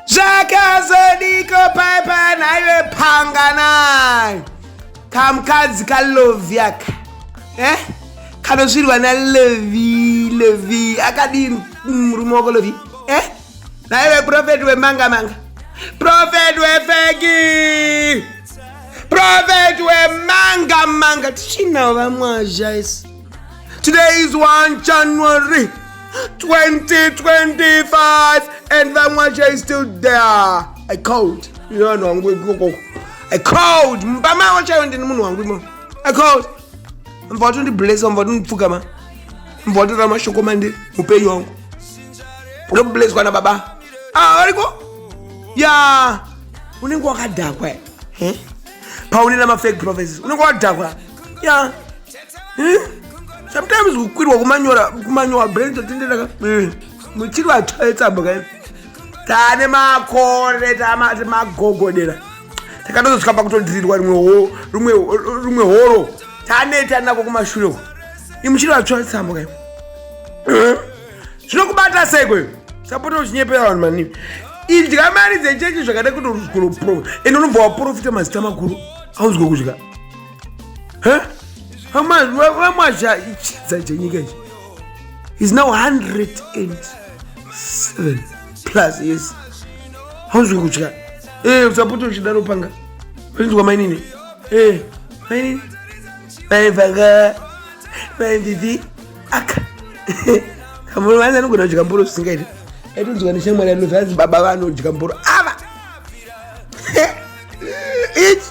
zvakazodiko paipa naive panganai kamukadzi kalovyaka eh? kanosvirwa nalevi levi akadii murume wako levi eh? naive profeti wemanga manga profeti wefeki profeti wemanga manga tichinawo vamwazha isi Today is 1 January 2025 and Vamwacha is still there. I called. You know, no, I'm going to go. I called. Mbama wacha yondi ni munu wangu imo. I called. Mvatu ndi bless, mvatu ndi pfuka ma. Mvatu rama shoko mandi, upeyi wangu. Ndo bless kwa na baba. Ah, waliko? Yeah. unenge wakadhakwa eh? paune na mafake prophecies unenge wadhakwa ya hmm? sometimes kukwirwa kumanyora kumanyowa brain totenderaka hmm. muchiri vatsvaetsamba kai tane makore tamagogodera takatozosvika pakutodirirwa rimwe horo taneta nako kumashure uko imuchiri vatsvaetsamba kai hmm? zvinokubata sei kweyo sapota uchinyepera vanhu manini idya mari dzechechi zvakada kuti uruzikuro ende unobva waprofita mazita makuru auzwe kudya vamwazha ichidza chenyika ichi is now 107 plus yes hauzwi kutya eh, usapote uchidarupanga pachinzwa mainini eh, mainini vaivaka vainditi aka kamboro vanzi anogona kudya mboro zvisingaiti aitonzwa neshamwari anoti vanzi baba vanodya mboro ava ichi